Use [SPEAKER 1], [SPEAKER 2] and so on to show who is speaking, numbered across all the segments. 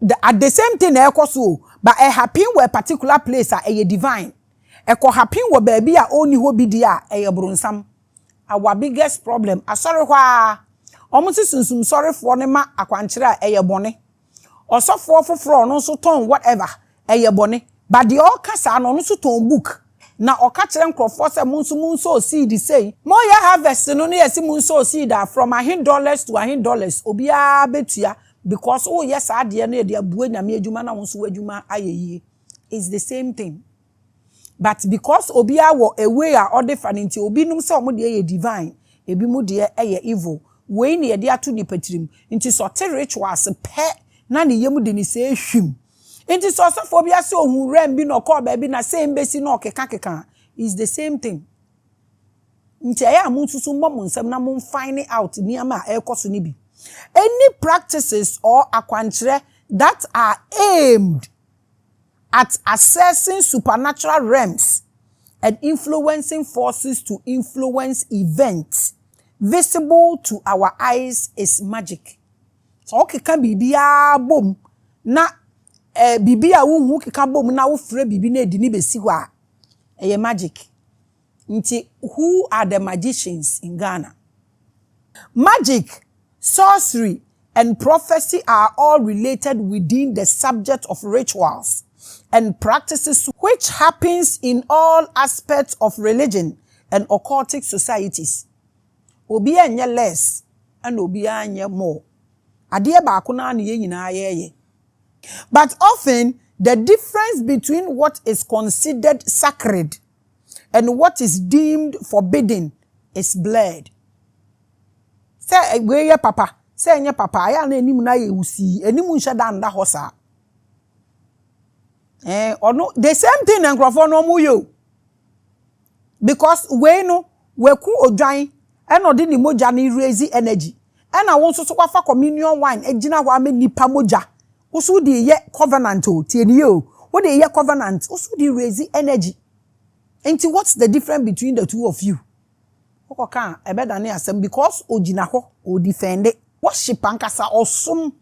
[SPEAKER 1] The at the same thing na ɛkɔ so o but ɛ happen wɔ a particular place a ɛyɛ divine ɛkɔ happen wɔ baabi a ɔnni hɔ bi deɛ a ɛyɛ bronsam our biggest problem asɔre hɔ ara wɔn nso sunsum sɔrefoɔ no ma akwankyerɛ a ɛyɛ bɔne ɔsɔfoɔ foforɔ a ɔno nso tɔn whatever Ɛyɛ bɔne. But deɛ ɔka saa no ɔno nso tɔn book na ɔka kyerɛ nkorɔfoɔ sɛ mo nso monsow seed sei. Moyɛ harvest no na yɛse monsow seed a from ahe dollars to ahe dollars obiara bɛtua because woyɛ saa adeɛ no ɛde abue Nyame adwuma na wo nso w'adwuma ayɛ yie. It's the same thing. But because obiara wɔ a way a ɔde fa no nti obi nom sɛ wɔn deɛ yɛ divine ebi mo deɛ yɛ evil. Wei na yɛde ato nipa tirim. Nti sɛ ɔte rituals pɛ na ne yam de ne sɛɛ hwim Nti sɛ ɔsɔfoɔ bi ase ohuu wurɛm bi na ɔkɔɔ baabi na sei mbɛsi na ɔkeka keka a, it's the same thing. Nti ɛyɛ a monsusu mmɔ mo nsɛm na mon fine out nneɛma a ɛrekɔ so no bi. Any practices or akwankyerɛ that are aimed at accessing supernatural realms and influencing forces to influence events visible to our eyes is magic. Sɛ wokeka biribiara bom na eh, biribi a wonhu wokeka bom na wofrɛ biribi na ɛde ne bɛsi hɔ a, ɛyɛ magic. Nti who are the magicians in Ghana? Magic, sorcery and prophecy are all related within the subject of rituals and practices which happens in all aspects of religion and occultic societies. Obiara nyɛ less ɛna obiara nyɛ more. Adeɛ baako no ara na yɛn nyinaa yɛɛyɛ. But often the difference between what is considered sacred and what is deemed forbidden is blurred. Sɛ wei yɛ papa, sɛ ɛnyɛ papa, ɛyɛ a na anim no ayɛ wusii. Anim nhyɛ da nda hɔ saa. Eh, ɔno, the same thing na nkurɔfoɔ no wɔyɛ o. because wei no waku odwan ɛna ɔde ne mogya no raise energy ɛna wo nso so wafa communion wine agyina hɔ ama nipa mogya wo so de yɛ covenant o tie ne yɛ o wo de yɛ covenant wo so de raise energy nti what's the difference between the two of you wokɔ ka a ɛbɛdane asɛm because ogyina hɔ o defend worship ankasa ɔsom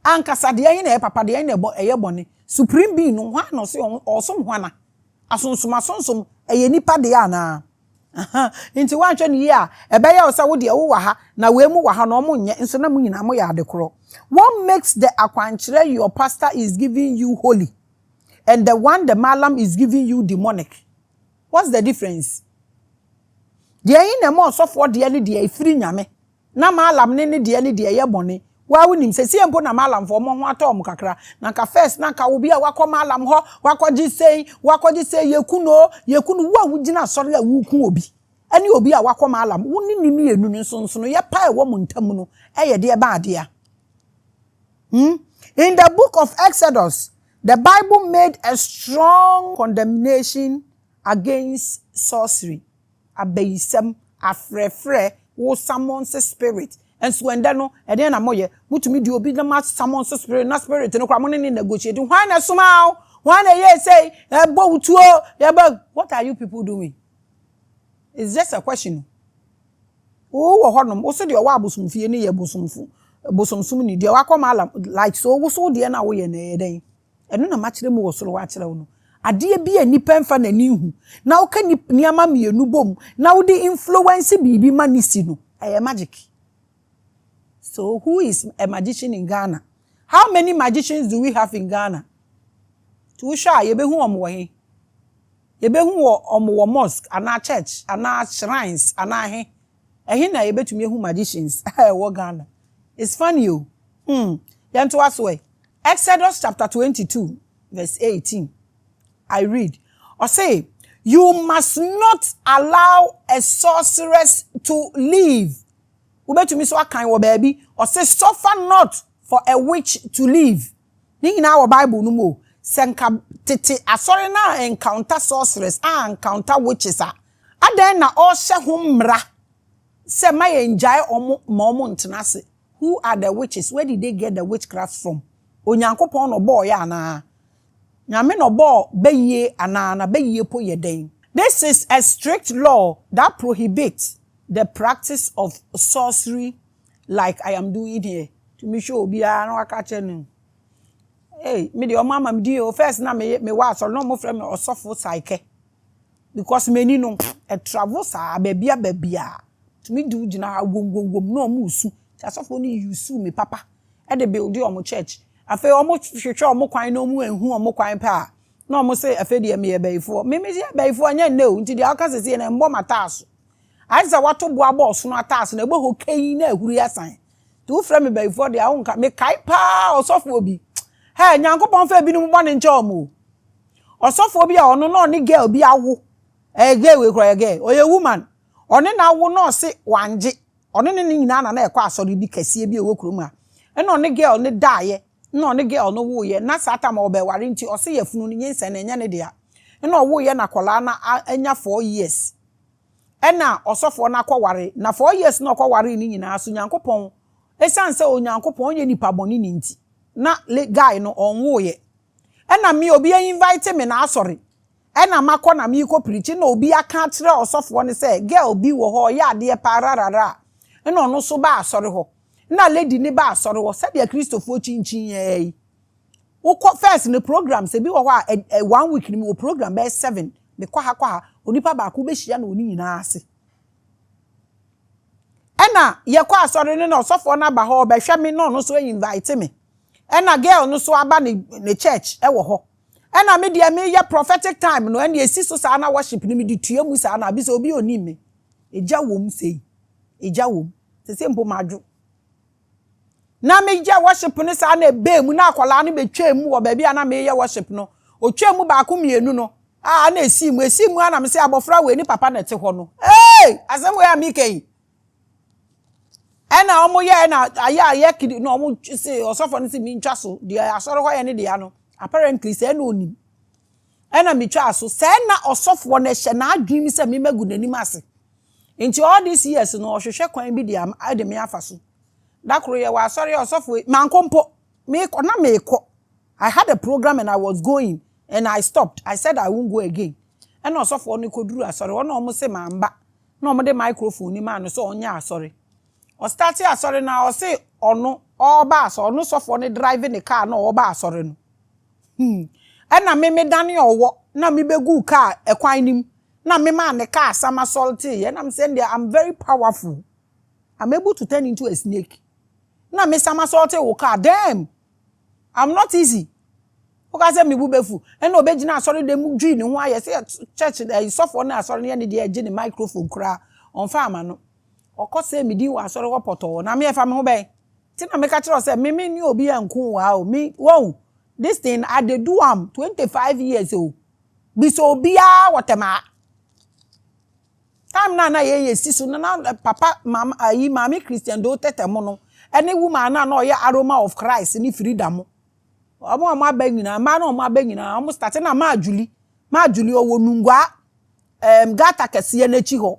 [SPEAKER 1] ankasa deɛ ɛhe na ɛyɛ papa deɛ ɛhe na ɛyɛ bɔne supreme being no hwan na ɔse ɔsom hwana Asonsom asonsom, ɛyɛ nnipa dea anaa? Aha, enti woanhwɛ no yie a, ɛbɛyɛ wo sɛ wo deɛ wowɔ ha, na wei mo wɔ ha, na wɔn nyɛ, nso na mo nyinaa moyɛ ade korɔ. What makes the akwankyerɛ your pastor is giving you holy and the one the mallam is giving you demonic? What's the difference? Deɛ ɛhe na ɛma ɔsɔfoɔ deɛ no deɛ ɛfiri Nyame, Na Maalam ne ne deɛ ne deɛ yɛ bɔne. Woaa wonim, sesie mpo na Maalamfoɔ wɔn ho atɔ wɔn kakra, na anka first na anka obi a wakɔ Maalam hɔ, wakɔgye sei, wakɔgye sei, yɛku no, yɛku no, wo a wogyina asɔre a woreku obi ne obi a wakɔ Maalam, wo ne ne mmienu no nsonsonoeɛ pa a ɛwɔ mo ntam no yɛ deɛ bɛn adeɛ? Hmm? In the book of Exodus, the Bible made a strong condemnation against sorcery. abayisɛm, afrɛfrɛ, wo summons spirit. Nso ɛndɛ no, ɛdeɛn na moyɛ? Motumi de obi na mo asummons spirit, na spirit no koraa mo ne no negotiate. Hwan na ɛsomaa wo? Hwan na ɛyɛɛ sei? Yɛbɔ wo tuo, yɛbɔ. What are you people doing? It's just a question. Wo wɔ hɔnom, wo so deɛ ɔwɔ abosomfie no yɛ bosomfo, bosomsomni, deɛ wakɔ malam, like so, wo so wo deɛ no a woyɛ no ɛyɛ dɛn? Ɛno na makyerɛ mu wɔ soro hɔ akyerɛ wo no. Adeɛ bi a nnipa mfa n'ani nhu na woka nneɛma mmienu bom na wode influence biribi ma no si no, ɛyɛ magic. So who is a magician in Ghana? How many magicians do we have in Ghana? Nti wohwɛ a yɛbɛhu wɔn wɔ he? Yɛbɛhu wɔn wɔ mosque anaa church anaa shrines anaa he? Ɛhe na yɛbɛtumi ahu magicians a ɛwɔ Ghana? It's funny o. Hmm. Yɛntoa so ɛ. Exodus chapter twenty two verse eighteen, I read, ɔse, You must not allow a sorceress to live. Wobɛtumi nso akan wɔ baabi, ɔse, Suffer not for a witch to live. Ne nyinaa wɔ Bible no mu o. Sɛ nka tete asɔre no a encounter sorceress, a encounter witches a, Adɛn na ɔrehyɛ ho mmara sɛ ma yɛngyae wɔn ma wɔn ntena ase? Who are the witches? Where did they get the witchcraft from? Onyankopɔn na ɔbɔɔ yɛ anaa? Nyame na ɔbɔɔ bayie anaa? Na bayie po yɛ dɛn? This is a strict law that prohibits the practice of sorcery like I am doing here. Tumi hwɛ obiara na waka akyerɛ no Ei, me deɛ wɔn ama me din o, first na meyɛ, mewɔ asɔre na wɔfrɛ me ɔsɔfo Saikɛ. because m'ani no ɛtravel saa bɛɛbia bɛɛbia tumi di wo gyina ha wom wom wom na ɔmo resu nti asɔfoɔ no use me papa ɛde build ɔmo church afei ɔmo hwehwɛ ɔmo kwan na ɔmo anhu ɔmo kwan pɛ a na ɔmo se afei deɛ meyɛ bɛyifoɔ me me yɛ bɛyifoɔ ɛnyɛ nnɛ o nti deɛ woka sesie no ɛmbɔ m'ataaso ayɛ sɛ wato bo abɔ ɔsono ataaso na ɛbɔ hɔ kɛyi na ahuri asan nti wo frɛ me bɛyifoɔ deɛ a wonka mekae paa ɔsɔfoɔ bi hɛɛ Nyankopɔn fa ebinom bɔne nkyɛ ɔmo o. Ɔsɔfoɔ bi a ɔno na ɔne girl bi awo, ɛɛ girl wei koraa ɔyɛ girl, ɔyɛ woman, ɔne no awo na ɔse wangye, ɔne ne ne nyinaa na na ɛkɔ asɔre bi kɛseɛ bi a ɛwɔ kurom ha, ɛna ɔne girl no daeɛ, ɛna ɔne girl no woeɛ, na saa time a ɔbɛware nti ɔse yafunu no nyinsɛn no ɛnyɛ ne dea, ɛna ɔwoeɛ na akwadaa no anya four years, ɛna ɔsɔfoɔ no akɔware, na four years no a ɔkɔwaree no nyinaa nso Nyankopɔn, ɛsiane sɛ Onyankopɔn ɔnyɛ nipa bɔne ni nti, na guy no ɔnwoeɛ, Ɛna me obi a invite me na asɔre ɛna makɔ na meekɔ preach ɛna obi aka akyerɛ ɔsɔfoɔ no sɛ girl bi wɔ hɔ ɔyɛ adeɛ paa rararaa ɛna ɔno nso baa asɔre hɔ ɛna lady no baa asɔre hɔ sɛdeɛ kristofoɔ kyinkyin yɛɛ yi wokɔ first no programs ebi wɔ hɔ a one week no mewɔ program bɛyɛ seven mekɔ ha kɔ ha onipa baako wobɛhyia no wɔ ne nyinaa ase. Ɛna yɛkɔ asɔre no na ɔsɔfoɔ no aba hɔ ɔbɛhwɛ me na ɔno nso a invite me ɛna girl no nso aba ne ne church ɛwɔ hɔ ɛna me deɛ meyɛ prophetic time no ɛna esi so saa na worship no mede tua mu saa na abi sɛ obi onim me egya wɔm sei egya wɔm sese mpo madwo. na meyɛ worship no saa na ɛbaa mu na akwadaa no bɛtwaa mu wɔ baabi a na meyɛ worship no ɔtwaa mu baako mmienu no a na ɛsii mu ɛsii mu a na me sɛ abɔfra wei ne papa na ɛte hɔ no ee asɛm wei a meka yi ɛna wɔn yɛ ɛna ayɛ ayɛ kiri na wɔn se ɔsɔfo no se mi ntwa so deɛ asɔre hɔ yɛ ne deɛ ano apparently sɛ ɛna onim ɛna metwaa so sɛ ɛna ɔsɔfoɔ no ɛhyɛ n'adwene mu sɛ mema gu n'anim ase Nti all these years no ɔhwehwɛ kwan bi de ama de me afa so. Da koro yɛwɔ asɔre a ɔsɔfo yi, mankɔ mpo. Mekɔ, na mekɔ. I had a program and I was going and I stopped. I said I won't go again. Ɛna ɔsɔfoɔ no kɔduruu asɔre hɔ na wɔse mamma na wɔde microphone no maa no sɛ ɔnyɛ asɔre. Ɔstartee asɔre no ara ɔse ɔno ɔreba asɔre, ɔno sɔfoɔ no drive ne car na ɔreba asɔre no. Hmm. Ɛna me medanee ɔwɔ na mebɛguu kaa ɛkwan no mu na memaa ne kaa sama sɔlteeɛ na mesɛ ndeɛ I'm very powerful I'm able to turn into a snake na me sama sɔltee wo kaa damn I'm not easy woka sɛ mebu bɛfu ɛna ɔbɛgyina asɔre dɛm mu dwii ne ho ayɛ sɛ church ɛyi sɔfoɔ no asɔre no yɛ ne deɛ ɛgye ne microphone koraa ɔmfa ama no Wɔkɔsɛɛ me din wɔ asɔre hɔ pɔtɔɔ, na me ɛfa me ho bɛn? Nti na meka kyerɛ wo sɛ, me me ne obi anku wo aa o, me, wahu, this thing I dey do am twenty five years o, bisa obiaa wɔ tɛm aa. Time no a na yɛ yɛ si so no na papa, mama, ayi, maame Christian Doe Tete mo no ɛne woman no a na ɔyɛ Aroma of Christ ne Frida mo, ɔmo a ɔmo aba nyinaa, mmaa no a ɔmo aba nyinaa ɔmo start, ɛna Maa Julie, Maa Julie ɔwɔ Nungua, ɛɛm, gutter kɛseɛ no akyi hɔ,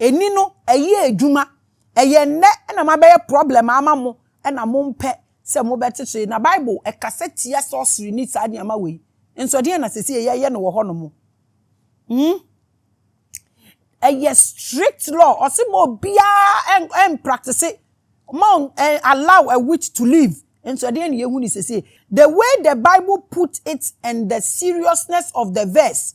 [SPEAKER 1] Ɛni no ɛyɛ adwuma. Ɛyɛ nnɛ na mabɛyɛ problem ama mo na mompɛ sɛ mobɛte so yi. Na Bible ɛkasa tia sorcery ne saa nneɛma wei. Nso ɛdeɛn na seesei yɛyɛ no wɔ hɔ nom? Hmm? Ɛyɛ strict law. Ɔse ma obiara ɛmpractice. Ma allow a witch to live. Nso ɛdeɛn na yɛhu ne seesei? The way the Bible put it and the seriousness of the verse.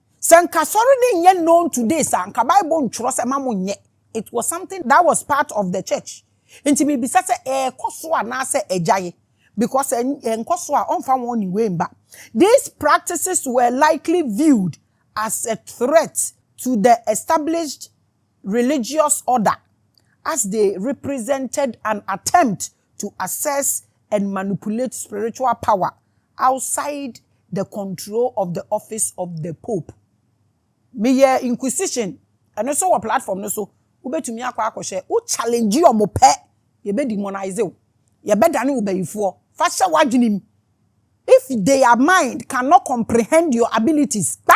[SPEAKER 1] Sɛ nka asɔre no nyɛ known today saa nka bible ntwerɛ sɛ ma mo nyɛ, it was something that was part of the church nti me bisa sɛ ɛɛkɔ so anaa sɛ agyae because sɛ ɛnkɔ so a ɔnfa wɔn ne wei mba. These practices were likely viewed as a threat to the established religious order as they represented an attempt to access and manipulate spiritual power outside the control of the office of the Pope. Meyɛ Inquisition, ɛno nso wɔ platform no so, wobɛtumi akɔ akɔhyɛ, wo challenge wɔn pɛ, yɛbɛ demonize wo, yɛbɛdane wo bayifoɔ, fa hyɛ w'adwenem, if their mind cannot comprehend your abilities, kpa!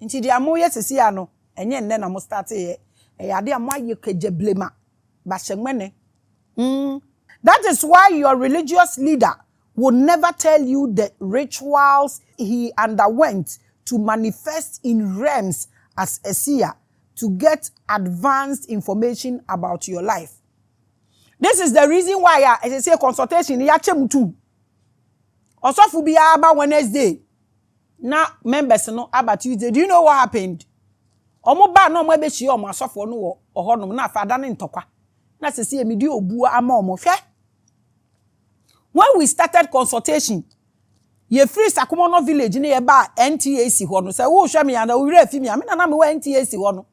[SPEAKER 1] Nti deɛ moyɛ sesei a no, ɛnyɛ nnɛ na mo starteeɛ, ɛyɛ adeɛ a moayɛ kagyablema, bahyɛmɛne, mm. That is why your religious leader will never tell you the rituals he underwent to manifest in realms as a seer to get advanced information about your life. This is the reason why a ɛsɛ sɛ consultation no yɛakyɛ mu two. Ɔsɔfo biara ba Wednesday na members no aba Tuesday do you know what happened ɔmo baa na ɔmo abɛhyia ɔmo asɔfoɔ no wɔ ɔhɔ nom na afei adane ntɔkwa na sɛsɛ mede obuo ama ɔmo hwɛ when we started consultation yɛfiri Sakomono village ne yɛbaa NTAC hɔ no sɛ wohwɛ me ana wowerɛ afi me a me na na mewɔ NTAC hɔ no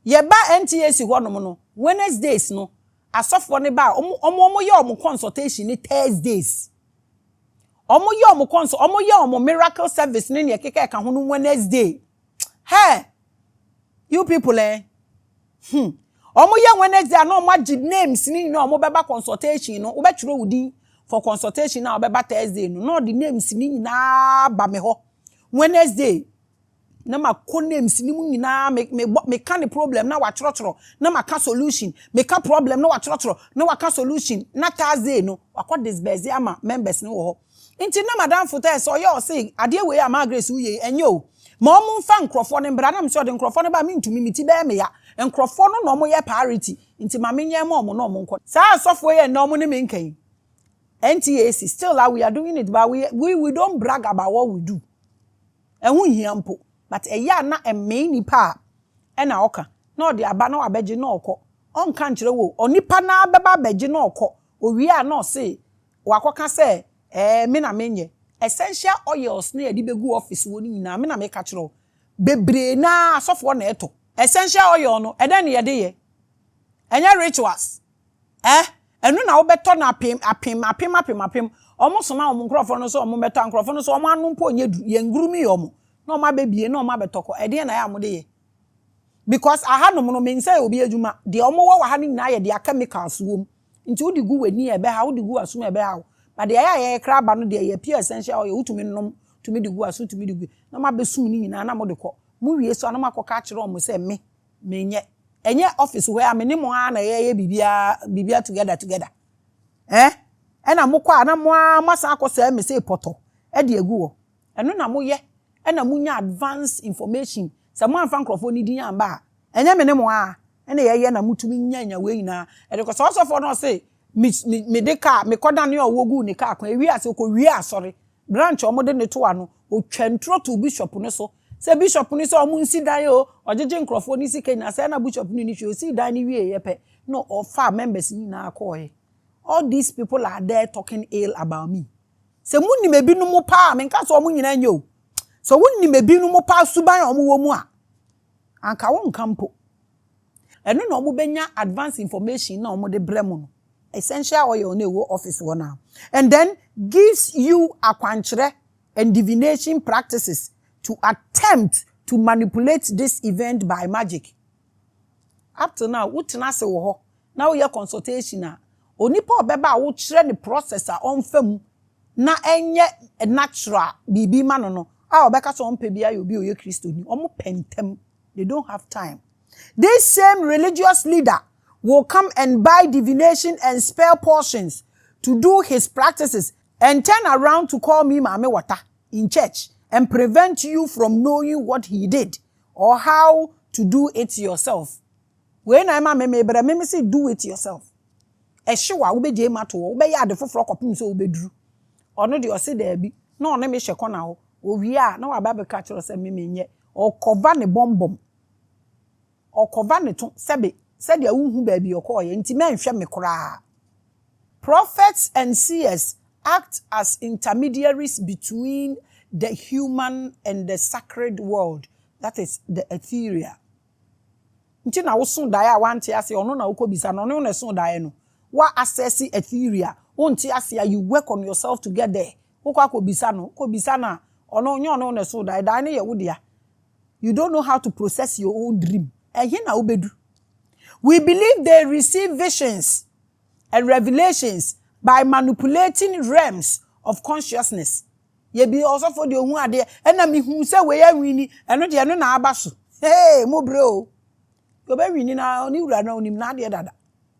[SPEAKER 1] yɛbaa NTAC hɔ nom no Wednesdays no asɔfoɔ no baa ɔmo ɔmo ɔmo yɛ ɔmo consultation ne Thursdays. Ɔmo yɛ ɔmo kɔn so, ɔmo yɛ ɔmo miracle service ne nea ɛkeka ɛka ho no Wednesday. Hey! You people eh! Hmm. Ɔmo yɛ Wednesday a na ɔmo agye names ne nyinaa ɔmo bɛba consultation no, wobɛtwerɛ wo din for consultation a ɔbɛba Thursday no, na ɔde names ne nyinaa ba me hɔ Wednesday. Na ma kɔ names no mu nyinaa me me bɔ me ka ne problem na wa twerɔtwerɔ na ma ka solution me ka problem na wa twerɔtwerɔ na wa ka solution na Thursday no wa kɔ disburse ama members no wɔ hɔ nti na madamfo tɛɛ sɛ ɔyɛ ɔse adeɛ wei a maa Grace wo yei ɛnyɛ o ma ɔmo nfa nkorɔfoɔ no mbra na me sɛ ɔde nkorɔfoɔ no ba me ntumi me ti bɛyɛ me ya nkorɔfoɔ no na ɔmo yɛ priority nti ma me nyɛ ma ɔmo na ɔmo nkɔ saa asɔfoɔ yi ɛnɛ ɔmo ne me nka yi NTAC still a we are doing it but we we we don't brag about what we do. Ɛho nhia mpo but ɛyɛ a na ɛmee nipa a ɛna ɔka na ɔde aba na wabɛgye na ɔkɔ ɔnka nkyerɛ wo o onipa no ara bɛba abɛgye na ɔkɔ owie a na ɔse wakɔka sɛ ɛɛ me na menyɛ essential oils no a yɛde bɛgu office hɔ no nyinaa me na meka kyerɛ wo bebree no ara asɔfoɔ na ɛtɔ. Essential oil no ɛdɛn na yɛde yɛ? Ɛnyɛ rituals. Eh! Ɛno na wobɛtɔ no apem, apem, apem, apem, apem. Wɔn soma wɔn nkurɔfoɔ no sɛ wɔn mmɛtɔ, a nkurɔfoɔ no so wɔn ano mpo nyɛ duru, yɛngurumiiɛ wɔn, na wɔn abɛbie, na wɔn abɛtɔ kɔ. Ɛdeɛn na ɛyɛ a mode yɛ? Because ahanom no, me nsɛ yɛ obi adwuma, deɛ wɔn wɔ wɔ ha no nyinaa yɛ deɛ chemicals wɔ mu, nti wode gu w'ani a ɛbɛha wo, wode gu w'asom a ɛbɛha wo, but deɛ ɛyɛ a yɛyɛ koraa ba no deɛ ɛyɛ pure essential oil, wotumi nom, tumi de gu w'aso, tumi de gu, na wɔabɛsum ne nyinaa na mode kɔ. Mowie so a na moakɔka akyerɛ wɔn sɛ me, Menyɛ. Ɛnyɛ office hɔ a me ne mo ara na yɛyɛ biribiara biribiara together together eh? Ɛna mokɔ a na mo ara moasan akɔsɛe me sei pɔtɔ de agu hɔ. Ɛno na moyɛ na monya advance information. Sɛ moamfa nkurɔfoɔ no din amba a, ɛnyɛ me ne mo ara na yɛyɛ na motumi nya nya wei nyinaa de kɔ. Sɛ ɔsɔfoɔ no ɔse me me mede car mekɔdanee ɔwɔ guu ne car kwan, ɛwiee ase ɔkɔwiee asɔre branch a wɔde no to ano, ɔtwa nturo too bishop no so, Sɛ bishop no sɛ ɔmo nsi dan oo, ɔgyegye nkorɔfoɔ no sika nyinaa, sɛɛ na bishop no nni hwee, ɔsii dan no wieeɛ pɛ na ɔfaa members no nyinaa kɔɔɛ. All these people are there talking ill about me. Sɛ mo nim ebinom paa, me nka sɛ ɔmo nyinaa nyɛ o, sɛ wo nim ebinom paa suban a ɔmo wɔ mu a, anka wo nka mpo. Ɛno na ɔmo bɛnya advance information na ɔmo de brɛ mo no, essential oil no a ɛwɔ office hɔ no ara, and then gives you akwankyerɛ, and divination practices to attempt to manipulate this event by magic. Up till now, wotena ase wɔ hɔ na woyɛ consultation a, onipa a ɔbɛba a wokyerɛ no process a ɔmfa mu na ɛnyɛ natural biribi ma no no a ɔbɛka sɛ ɔmpɛ biara yɛ obi a ɔyɛ Kristoni. Wɔpɛ ntɛm. They don't have time. This same religious leader will come and buy divination and spell portions to do his practices And turn around to call me maame water in church and prevent you from knowing what he did or how to do it yourself Wei na ɛma me mebrɛ me mese do it yourself Ɛhyew a wobɛgyae mu ato hɔ wobɛyɛ ade foforɔ kɔpem sɛ wobɛduru Ɔno deɛ ɔse daabi na ɔne me hyɛ kɔna hɔ Ɔwie a na waba abɛka kyerɛ wo sɛ me menyɛ Ɔkɔva ne bɔmbɔm Ɔkɔva ne to sɛbe sɛdeɛ wonhu baabi ɔkɔɔeɛ nti mɛnhwɛ me koraa. Prophets and seers act as intermediaries between the human and the sacred world, that is, the ethereal. Nti na woso daeɛ a wante aseɛ ɔno na wokɔbisa no, ɔne wo na ɛso daeɛ no. Woa assess ethereal, wonte aseɛ a you work on yourself to get there, Wokɔ akɔbisa no, wokɔbisa no a, ɔno, nyɛ ɔno na ɛsoo daeɛ, daeɛ no yɛ wo dea. You don't know how to process your own dream. Ɛhe na wobɛdu? We believe they receive visions and revelations by manipulating realms of consciousness. Yɛbi ɔsɔfoɔ deɛ ɔhu adeɛ, ɛna mehuu sɛ wei awini, ɛno deɛ ɛno na aba so. Hey, mobrɛ o. Deɛ ɔbɛwini no, ne wura no ɔnim n'adeɛ dada.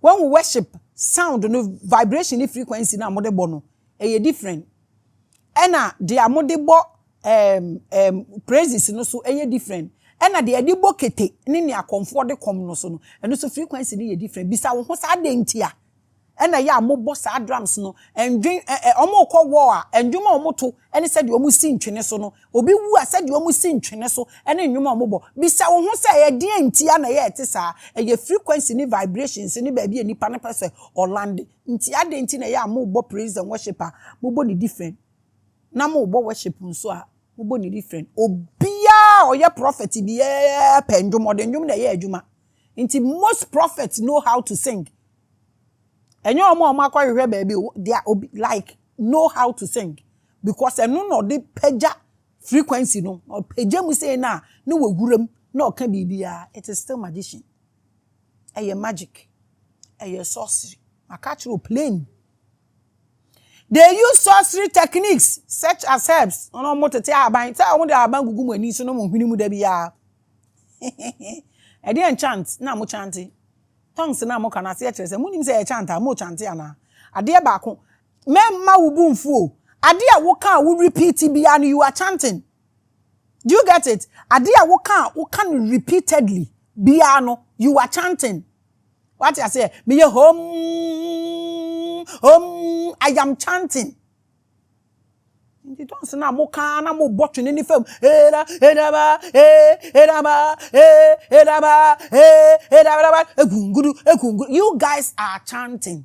[SPEAKER 1] Wen wo worship sound no vibration ne frequency no a mode bɔ no ɛyɛ different ɛna dea mode bɔ um, um, praises no so ɛyɛ different ɛna dea ɛde bɔ kete ne nea kɔmfoɔ de kɔm no so no ɛno so frequency no yɛ different bisa wo ho saa dɛn nti a ɛna ɛyɛ a mobɔ saa drums no ɛndwen ɛ ɛ wɔn rekɔ wɔ a ɛndwom a wɔn to ɛne sɛdeɛ wɔn si ntwene so no obi wu a, sɛdeɛ wɔsi ntwene so ne nnwom a wɔbɔ. Bisa wo ho sɛ, Ɛdeɛn nti ara na ɛyɛ a ɛte saa? Ɛyɛ frequency ne vibrations ne baabi a nipa no pɛ sɛ ɔlande nti. Adɛn nti na ɛyɛ a mobɔ praise and worship a, mobɔ no different, na mobɔ worship nso a, mobɔ no different? Obiara a ɔyɛ prophet biara pɛ nnwom, ɔde nnwom na ɛyɛ adwuma. Nti most prophets know how to sing. Ɛnyɛ wɔn a wɔakɔhwehwɛ baabi o, they are obi like know how to sing. Because ɛno na ɔde pagya frequency no. Ɔpagya mu sei na ne wɔ wura mu na ɔka biribiara. It is still magician. Ɛyɛ magic. Ɛyɛ sorcery. Maka akyerɛ wo plain. They use sorcery techniques such as herbs. Ɔno ɔmo tete ahaban. Sɛ ɔmo de ahaban gugu mo ani so na ɔmo hwene mu da biara. Ɛdeɛ enchant na mo chante. Tongues na mo ka no aseɛ kyerɛ sɛ mo nim sɛ yɛ chant a mo chante anaa. Adeɛ baako Mɛmma wo bo mfu o. Ade a woka a wo repeat biara no, you are chanting. Do you get it? Ade a woka a woka no repeatedly biara no, you are chanting. Wate aseɛ? Meyɛ hom, hom, I am chanting. Nti tons no a moka ara na mobɔ twene ne fam. Era, eraba, e, eraba, e, eraba, e, eraba, egungudu, egungudu. You guys are chanting.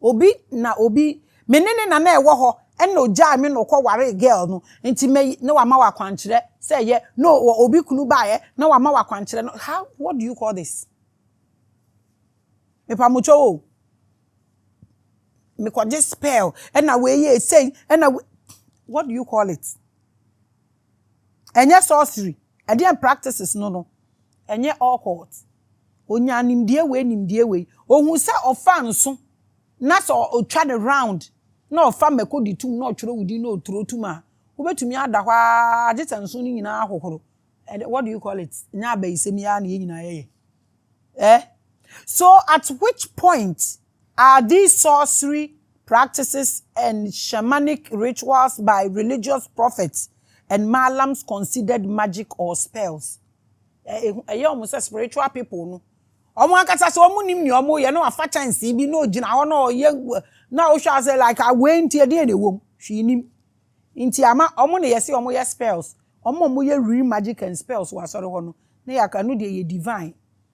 [SPEAKER 1] Obi na obi me ne ne na na ɛwɔ hɔ ɛna ogyae me na ɔkɔ waree girl no nti mɛ na wama wo akwankyerɛ sɛ yɛ no wɔ obi kunu baeɛ na wama wo akwankyerɛ no how what do you call this mepamokyɛw o mekɔgye spell ɛna wei yɛɛ sei ɛna what do you call it. Ɛnyɛ sorcery, ɛdeɛn practices no no, ɛnyɛ occult. Ɔnyaa nimdeɛ wei, nimdeɛ wei. Ɔhuu sɛ ɔfa nso na sɛ ɔtwa no round na ɔfa mmako de tom na ɔtwerɛ wo din na ɔturo tom a, wobɛtumi ada hɔ ara gye sɛ nso no nyinaa ahohoro. Ɛdeɛ, what do you call it? Ɛnyɛ abayisɛm yi ara na yɛn nyinaa yɛyɛ? Eh? So at which point Are these sorcery practices and shamanic rituals by religious prophets and malams considered magic or spells? Ɛyɛ wɔn sɛ spiritual people no, wɔn ankasa sɛ wɔnnim nea wɔreyɛ na wɔafa kyɛnsee bi na ogyina hɔ na ɔyɛ na wohwɛ a sɛ like a wei nti ɛdeɛn na ɛwɔ mu? Hwee nnim. Nti ama wɔn na yɛse wɔyɛ spells, wɔn a wɔyɛ real magic and spells wɔ asɔre hɔ no na yɛaka ɛno deɛ ɛyɛ divine.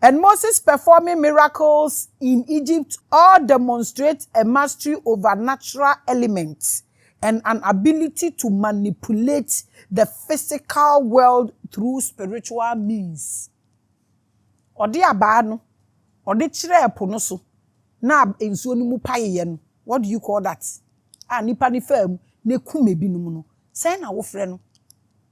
[SPEAKER 1] And Moses performing miracles in Egypt all demonstrate a mastery over natural elements and an ability to manipulate the physical world through spiritual means. Ɔde abaa no, ɔde kyerɛɛ po no so na nsuo no mu paeeɛ no, what do you call that? a nnipa no faa mu na ɛkum ebinom no, sɛn na wofrɛ no?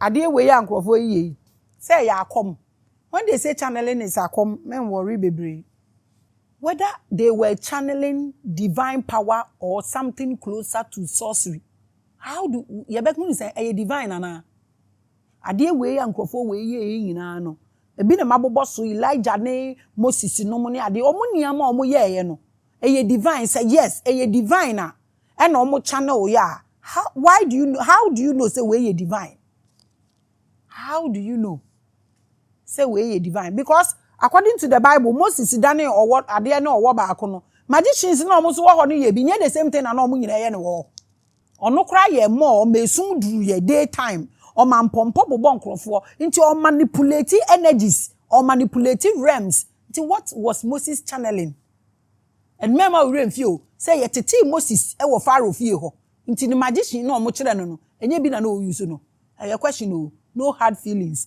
[SPEAKER 1] Adeɛ wei a nkorɔfoɔ yi yɛ yi, sɛ ɛyɛ akɔm, when they say channeling is akɔm, me nwɔre bebree, whether they were channeling divine power or something closer to sorcery, how do, yɛbɛhunu sɛ ɛyɛ divine anaa? Adeɛ wei a nkorɔfoɔ wei yɛ yi nyinaa no, ebi na mabobɔ so, Elijah ne Moses nom ne adeɛ, wɔn nneɛma a wɔyɛeɛ no, ɛyɛ divine? Sɛ yes, ɛyɛ divine a, ɛna ɔmo channel yɛ a how why do you know how do you know sɛ wei yɛ divine how do you know sɛ wei yɛ divine because according to the bible moses danee ɔwɔ adeɛ ne ɔwɔ baako no magicians na ɔmo nso wɔ hɔ no yɛ bi nyɛ the same thing na na ɔmo nyinaa yɛ no wɔ hɔ ɔno koraa yɛ mɔ ɔma esum duru yɛ day time ɔma mpɔmpɔ bobɔ nkorɔfoɔ nti ɔmanipulate energies ɔmanipulate realms nti what was moses channeling. Ɛno amma wo werɛ amfi o sɛ yɛtetee Moses wɔ Farao fie hɔ nti ne magician no a wɔkyerɛ no no ɛnyɛ bi na na ɔuse no. Ɛyɛ question o, no hard feelings.